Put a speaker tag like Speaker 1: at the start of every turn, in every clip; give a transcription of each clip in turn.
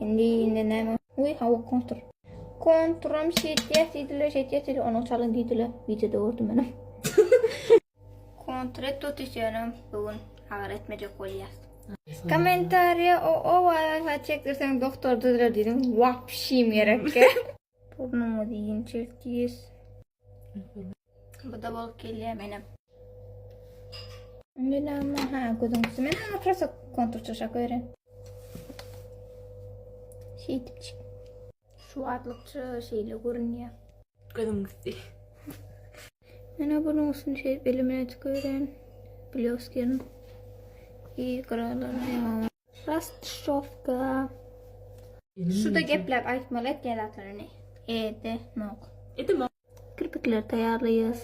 Speaker 1: Indi indi näme? Uý hawa kontur. Konturam şeýtýär diýdiler, şeýtýär diýdiler, onuň çalyň diýdiler. Wideoda gördüm men hem. Kontret tutis ýöne bugün agyr etmejek bolýas. Kommentariýa o o waýwaý çekdirseň doktor düzler diýdim. Wapşim gerekkä. Burnumyzy ýençeltýäs. Bu da bol gelýär menem. Indi näme? Ha, gözüň üstü men ha prosta kontur çaşak öýren. Şeýdipçik. Şu wagtlykça şeýle görünýär. Gözüň üstü. Menä bunuň üstüni şeýdip elimle çykyp öýren. Blýoskiň. I gyralaryny Rastşowka. Şuda gepläp aýtmaly etýän zatlaryny. Ede nok. Edemok. Kirpikleri taýýarlaýas.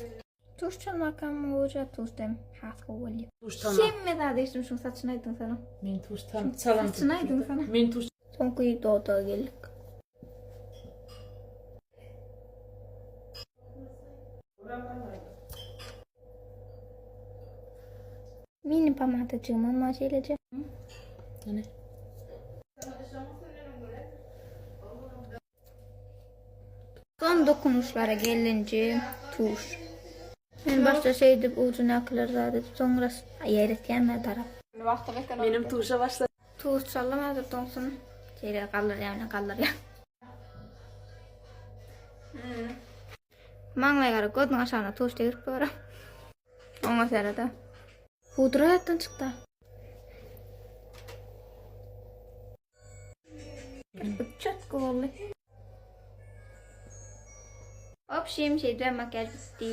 Speaker 1: Tuş çalmakam uja tusdem has gowy bolýa. Tuş çalmak. Hemme zady eşdim şuň saçyny aýdyň sana. Men tuş çalym çalym. Saçyny aýdyň sana. Men tuş. Soňky doda geldik. Mini pomadajygyma maş elejek. Ýene. Son dokunuşlara gelince tuş. Men başda şeýdip ujunakylar zady soňra ýeretýänme tarap. Menem tuşa başla. Tuş çalym häzir toňsun. Şeýle galdyrýan, galdyrýan. Maňlaýa gara gözüň aşagyna tuş degirip gör. Oňa sereda. Pudra ýatdan çykda. Çatky boldy. Obşim şeýdibem makiýaž bitdi.